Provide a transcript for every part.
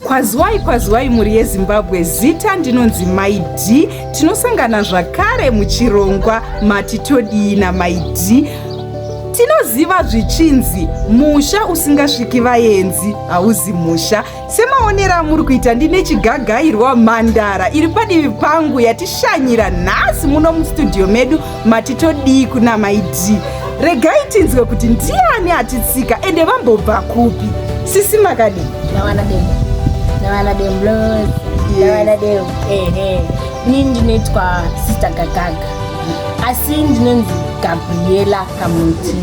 kwaziwai kwaziwai mhuri yezimbabwe zita ndinonzi maid tinosangana zvakare muchirongwa mati todii namaid tinoziva zvichinzi musha usingasviki vaenzi hauzi musha semaonero amuri kuita ndine chigagairwa mhandara iri padivi pangu yatishanyira nhasi muno mustudio medu mati todii kuna mai d regai tinzwe kuti ndiani atitsika ende vambobva kupi sisi makadii ndawana demo ndawana demo bros ndawana demo ehe ini ndinoitwa sister gagaga asi ndinonzi gabriela kamuti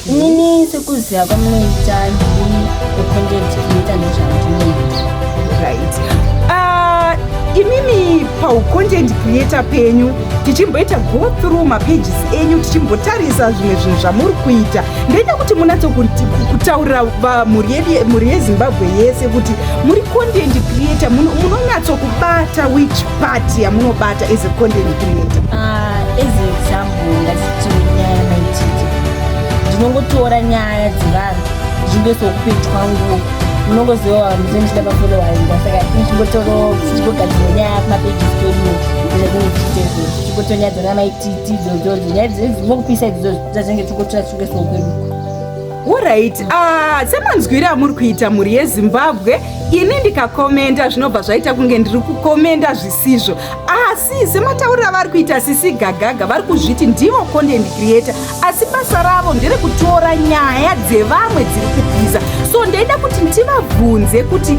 inini sekuziva kwamunoita ndiri wecontent creator ndozvandinoita right uh, imimi paucontent creator penyu tichimboita go through mapages enyu tichimbotarisa zvimwe zvinhu zvamuri kuita ndoita kuti munatso kutaurira mhuri yezimbabwe yese kuti muri content creator munonyatso kubata which part yamunobata as a content creator ah, as example ngatitori nyaya maititi ndinongotora nyaya dzevanhu zvimbeso kupetwa nguo unongoziva muzinhu chida mafoni waenda saka tichingotoro tichingogadzira nyaya kumapeji zitodiwo zvatinge tichitezvo tichingotonyadza namaititi dzodzodzo nyaya dzokupisa idzidzo dzazenge tingotora tichunge soo kwedu orit ah, semanzwiri amuri kuita mhuri yezimbabwe ini ndikakomenda zvinobva zvaita kunge ndiri kukomenda zvisizvo asi ah, sematauriro avari kuita sisi gagaga vari kuzviti ndivo content creator asi basa ravo ndere kutora nyaya dzevamwe dziri kubhiza so ndaida kuti tivabvunze kuti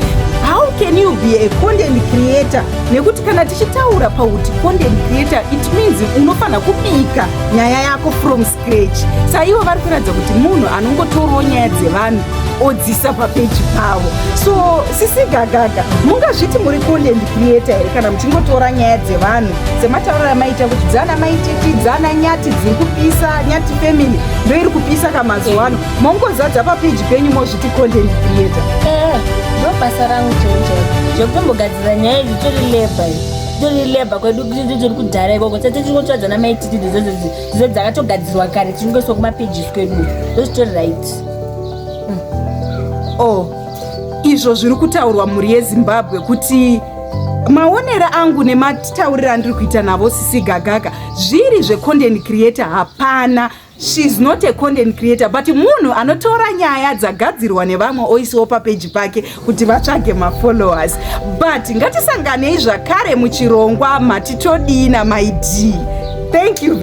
how can you be a content creator nekuti kana tichitaura pakuti content creator it means unofanira kubika nyaya yako from scratch saivo vari kuratidza kuti munhu anongotorawo nyaya dzevanhu odzisa papeji pavo so sisi gagaga mungazviti muri content creator here kana muchingotora nyaya dzevanhu sematauriro amaita kuti dzana maititi dzana nyati dziri kupisa nyati family ndo iri kupisa kamazuva ano mongozadza papeji penyu mozviti content creator eh, ndobasa rangu chenjero zvekutombogadzira nyaya idzi tori leba i titori leba kwedu kuti tiri kudhara ikoko sati tiri kutsvadza namaititi dzese dzese dzakatogadzirwa kare tichingoswa kumapages kwedu ndozvitori right Oh, izvo zviri kutaurwa mhuri yezimbabwe kuti maonero angu nematauriro andiri kuita navo sisi gagaka zviri zvecontent creator hapana sheis not a content creator but munhu anotora nyaya dzagadzirwa nevamwe oisiwo papeji pake kuti vatsvage mafollowers but ngatisanganei zvakare muchirongwa matitodii namaid thank you